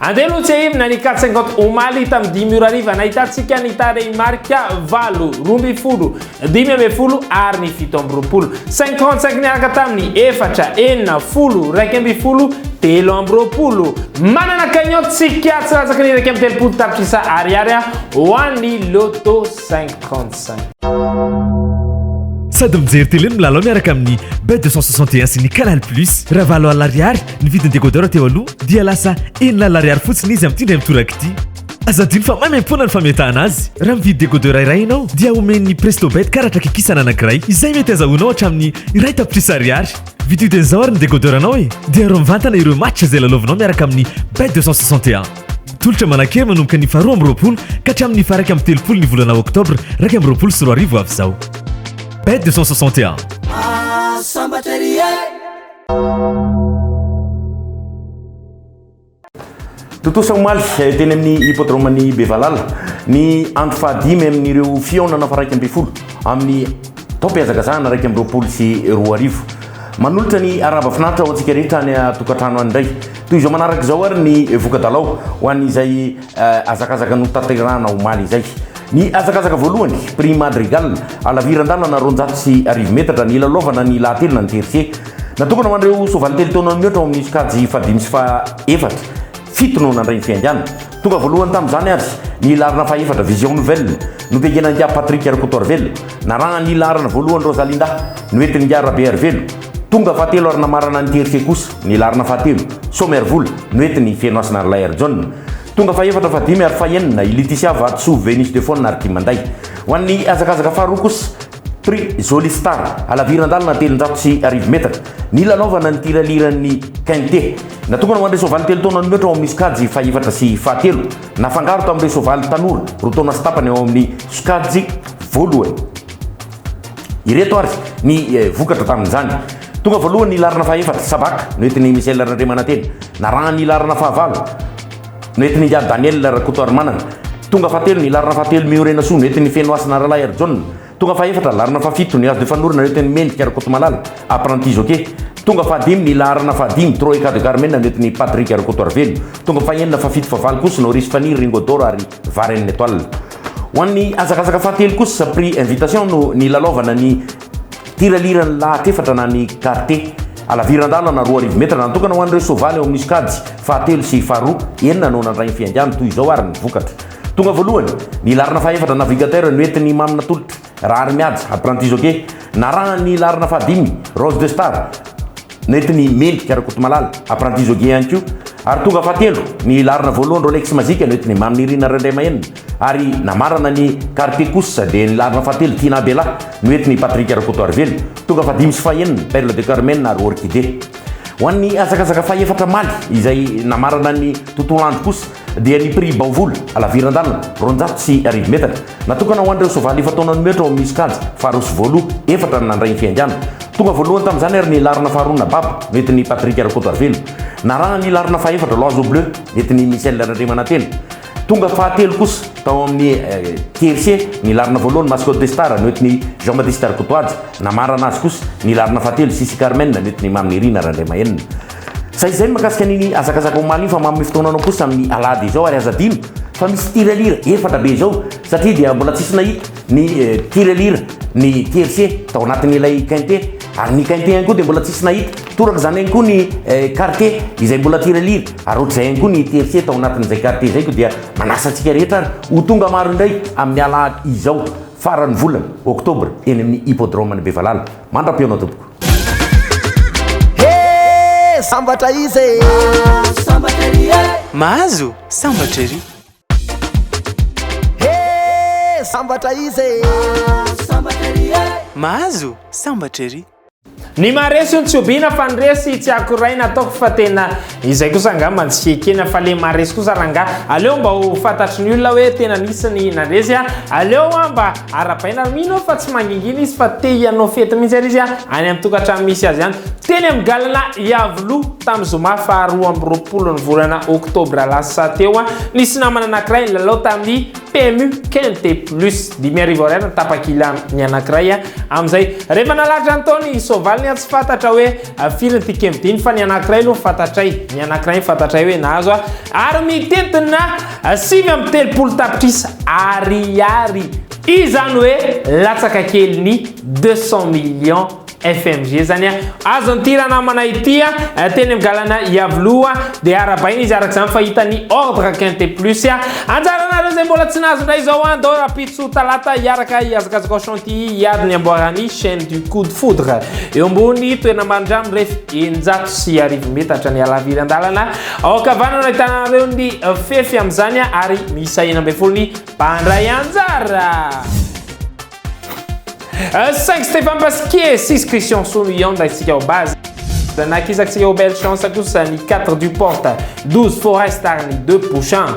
Andeha aloha tsiahivina ny quatre cinquante omaly tamin'ny dimy ora hariva nahitantsika ny tarehimarika valo, roa ambin'ny folo, dimy ambin'ny folo ary ny fito amby roapolo. Cinq trente cinq niaraka tamin'ny efatra, enina, folo, iraika ambin'ny folo, telo amby roapolo. Manana cagnotte tsika tsy latsaky ny iraika amby telopolo tapitrisa ariary ho an'ny Lotto cinq trente cinq. Sady mijery télé no milalao miaraka amin'ny Bet 261 sy ny Canal Plus. Ravalo Al Ariary Ny vidin'ny décodeur teo aloha dia lasa enina alina ariary fotsiny izy amin'ity indray mitoraka ity. Aza adino fa maimaim-poana ny fametahana azy. Raha mividy décodeur iray ianao dia omen'ny Prestobet karatra kikisana anankiray izay mety azahoanao hatramin'ny iray tapitrisa ariary. Vidio dia izao ary ny décodeur anao e! Dia aro mivantana ireo match izay lalaovinao miaraka amin'ny Bet 261. Tolotra manankery manomboka ny faharoa amby roapolo ka hatramin'ny faharaika amby telopolo ny volana oktobra iraika amby roapolo sy roa arivo avy izao. Bet 261. Sambatra ery e! Tontosa omaly eh, teny amin'ny hippodrome-n'i Bevalala ny andro fahadimy amin'ireo fihaonana faraika ambin'ny folo amin'ny taom-pihazakazahana raika amby roapolo sy roa arivo. Manolotra ny arahaba finaritra ho antsika rehetra any a-tokantrano any indray. Toy izao manaraka izao ary ny voka-dalao ho an'izay Hazakazaka notanterahana omaly izay. Ny hazakazaka voalohany, Prix Madrigal, halaviran-dalana roanjato sy arivo metatra, nilalaovana ny lahatelina ny tiercé. Natokana ho an'ireo soavaly telo taona mihoatra ao amin'ny sokajy fahadimy sy fahaefatra. Fito no nandray ny fihaingàna. Tonga voalohany tamin'izany ary ny laharana fahefatra, Vision Nouvelle, notengenan'ingahy Patrick Rakotoarivelo. Narahan'ny laharana voalohany Rosalinda, noentin'ingahy Rabearivelo. Tonga fahatelo ary namarana ny tiercé kosa. ny laharana fahatelo, Somer vola, Noety ny Fenohasina ary Lair John, tonga fahefatra, fahadimy ary fahenina, i Liticia Vatosoa, Venus de Faune ary Timanday. Ho an'ny hazakazaka faharoa kosa, Prix Jolie Star, halaviran-dalana telonjato sy arivo metatra, ny lalaovana ny tiraliran'ny Quintet. Natokana ho an'ireo soavaly telo taona no mihoatra ao amin'ny sokajy fahefatra sy fahatelo, nafangaro tamin'ireo soavaly tanora roa taona sy tapany ao amin'ny sokajy voalohany. Ireto ary ny vokatra tamin'izany. Tonga voalohany ny laharana fahaefatra, Sabaka, noentin'i Michel Randriamanantena. Narahany ny laharana fahavalo, noentin'i Ingahy Daniel Rakotoarimanana. Tonga fahatelo ny laharana fahatelo, Mihorenasoa, noentin'i Fenohasina Ralahy Harijaona. Tonga fahefatra, laharana fahafito, Nuages de Fanorona, noentin'i Mendrika Rakotomalala, apprenti jockey. Tonga fahadimy ny laharana fahadimy, Troika de Carmen, noentin'i Patrick Rakotoarivelo. Tonga fahenina, fahafito, fahavalo kosa, Noris Faniry, Ringo d'or ary Varenne Etoile. Ho an'ny hazakazaka fahatelo kosa, prix invitation no nilalaovana ny tiraliran'ny lahat efatra na ny karte. Alaviran-dalana roa arivo metatra natokana ho an'ireo soavaly eo amin'ny sokajy fahatelo sy faharoa, enina no nandray ny fihaingàny, toy izao ary ny vokatra. Tonga voalohany, ny laharana fahaefatra, Navigateur, no entin'i Mamy natolotra. Rahary Mihaja, apprenti jockey, narahan'ny hilarina fahadimy, Rose de Star, nentin'i Mendrika Rakotomalala, apprenti jockey ihany koa, ary tonga fahatelo ny hilarina voalohany, Rolex Magic, nentin'i Mamy Nirina Randriamahenina, ary namarana ny Quartier kosa dia ny hilarina fahatelo, Tina Bella, nentin'i Patrick Rakotoarivelo, tonga fahadimy sy fahenina, Perle de Carmen ary Orchidée. Ho an'ny hazakazaka fahefatra Maly izay namarana ny tontolo andro kosa dia ny prix Baovoly, Alaviran-dalana, roanjato sy arivo metatra, natokana ho an'ireo soavaly efa taonan'ny mihoatra ao amin'ny sokajy faharoa sy voaloha, efatra no nandray ny fihaingana. Tonga voalohany tamin'izany ary ny laharana faharoa na Bab, nentin'i Patrick Rakotoarivelo. Narahana ny laharana fahefatra, L'Oiseau Bleu, nentin'i Michel Randriamanantena. Tonga fahatelo kosa tao amin'ny tiercé ny laharana voalohany, Mascotte des Stars, nentin'i Jean-Baptiste Rakotoaja. Namarana azy kosa ny laharana fahatelo, Sisy Carmen, nentin'i Mamy Nirina Randriamahenina. Zay izay ny makasika an'iny hazakazaka omaly iny fa manome fotoana anao kosa amin'ny alahady izao ary aza adino fa misy tirelira efatra be izao satria dia mbola tsisy nahita ny tirelira ny TFC tao anatin'ilay quinte ary ny quinte ihany koa dia mbola tsisy nahita toraka izany ihany koa ny quarte izay mbola tirelira ary ohatr'izay ihany koa ny TFC tao anatin'izay quarte izay koa dia manasa antsika rehetra ary ho tonga maro indray amin'ny alahady izao faran'ny volana oktobra eny amin'ny hippodrome-n'i Bevalala mandra-pihaona tompoko. Sambatra izy e Sambatra ery e Mahazo sambatra ery He sambatra izy e Sambatra ery e Mahazo sambatra ery Ny maharesy no tsy obiana fa ny resy tsy akoraina ataoko fa tena Izay kosa angamba tsy ekena fa le maharesy kosa rangah. Aleo mba ho fantatry ny olona hoe tena nisy ny nandresy a. Aleo hoa mba arabaina ary mino aho fa tsy mangingina izy fa te hianao fety mihitsy ary izy a any amin'ny tokantrano misy azy any. Teny amin'ny galana Iavoloha tamin'ny zoma faha roa amby roapolo ny volana oktobra lasa teo a. Nisy namana anankiray nilalao tamin'ny PMU Quinte Plus dimy arivo ariary ny tapakila ny anankiray a. Amin'izay rehefa nalatrany tao ny soavaliny a tsy fantatra hoe. Firy ny tikem dimy fa ny anankiray aloha fantatray, ny anankiray fantatray hoe nahazo a ary mitentina sivy amby telopolo tapitrisa ariary izany hoe latsaka kely ny deux cent millions FMG zany a azon'ity ranamana ity a teny amin'ny galana Iavoloha dia arabaina izy araka izany fa hita ny ordre quinte plus a anjaranareo izay mbola tsy nahazo indray izao a ndao rapitso talata hiaraka hihazakazaka au Ity hiady ny amboaran'ny Chaîne du Coup de Foudre eo ambony toerana marindra mirefy eninjato sy arivo metatra ny halaviran-dalana. Ao ankavanana ahitana ireo ny fefy amin'izany ary miisa enina ambin'ny folo ny mpandray anjara. Euh, saingy Stéphane Pasquier sisy Christian Sono Ian raintsika ao base. Nakizaksika ao belle chance kosa ny 4 du porte, 12 forest ary ny 2 prochain.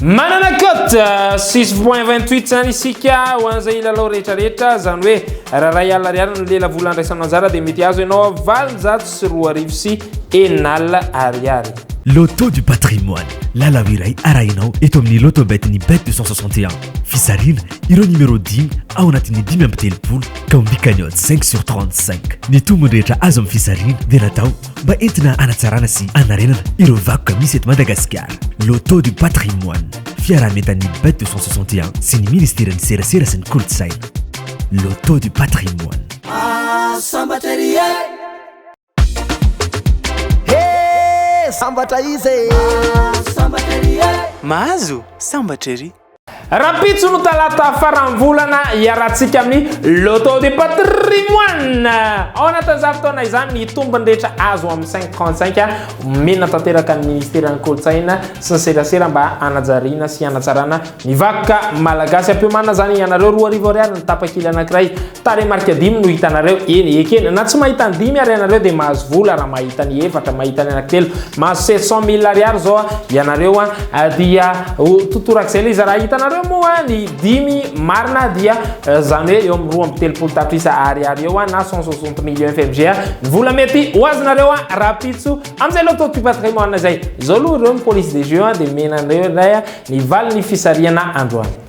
Manana cote six point vingt huit zany isika ho an'izay hilalao rehetra rehetra, izany hoe raha iray alina ariary no lela vola andraisanao anjara dia mety hahazo ianao valonjato sy roa arivo sy enina alina ariary. Loto du patrimoine, lalao iray arahinao eto amin'ny Lotobet ny Bet deux cent soixante et un. Fizarina ireo numéro dimy ao anatin'ny dimy amby telopolo ka omby cagnotte cinq sur trente cinq. Ny tombony rehetra azo amin'ny fizarina dia natao mba entina hanatsarana sy hanarenana ireo vakoka misy eto Madagasikara. Loto du patrimoine, fiaraha-mientan'ny bet 261 sy ny Ministeran'ny Serasera sy ny Kolontsaina. Loto du patrimoine. Sambatra ery e! He! Sambatra izy e! Sambatra ery e! Mahazo! Sambatra ery! Rahampitso no talata faran'ny volana iarahantsika amin'ny Loto du patrimoine. Ao anatin'izany fotoana izany ny tombony rehetra azo amin'ny 535 omena tanteraka ny ministeran'ny kolontsaina sy ny serasera mba hanajariana sy hanatsarana ny vakoka malagasy. Ampiomana izany ianareo roa arivo ariary ny tapakila anankiray. Tarehimarika dimy no hitanareo, eny, ekena, na tsy mahita ny dimy ary ianareo dia mahazo vola raha mahita ny efatra, mahita ny anankitelo, mahazo sept cent mille ariary izao ianareo an, dia ho totorak'izay ilay izy, raha hitanareo moa ny dimy marina dia izany hoe eo amin'ny roa amby telopolo tapitrisa ariary eo an, na cent soixante millions FMG an, ny vola mety ho azonareo an, rahampitso amin'izay loto du patrimoine izay. Izao aloha ireo ny police des jeux an, dia omena anareo indray an, ny valin'ny fisarihana androany.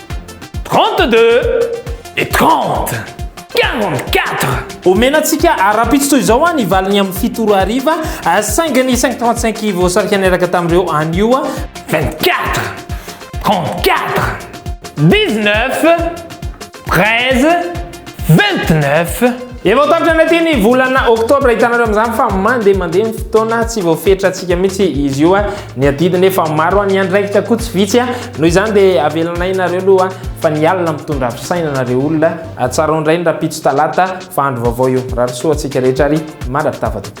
Trente-deux et trente. Quarante-quatre. Omena antsika ara-pitsy toy izao ny valiny amin'ny fito ora hariva, saingy ny cinq trente cinq voasarika niaraka tamin'ireo anio. Vingt-quatre. Trente-quatre. Dix-neuf. Treize. 29. Efa ho tapitra ny aty ny volana oktobra, hitanareo amin'izany fa mandeha mandeha ny fotoana, tsy voafetra antsika mihitsy izy io. Ny adidy nefa maro, ny andraikitra koa tsy vitsy. Noho izany dia avelanay nareo aloha fa ny alina mitondra fisainana re olona. Tsarao indray ny rahampitso talata fa andro vaovao io. Rary soa antsika rehetra ary mandrapitava tompoko.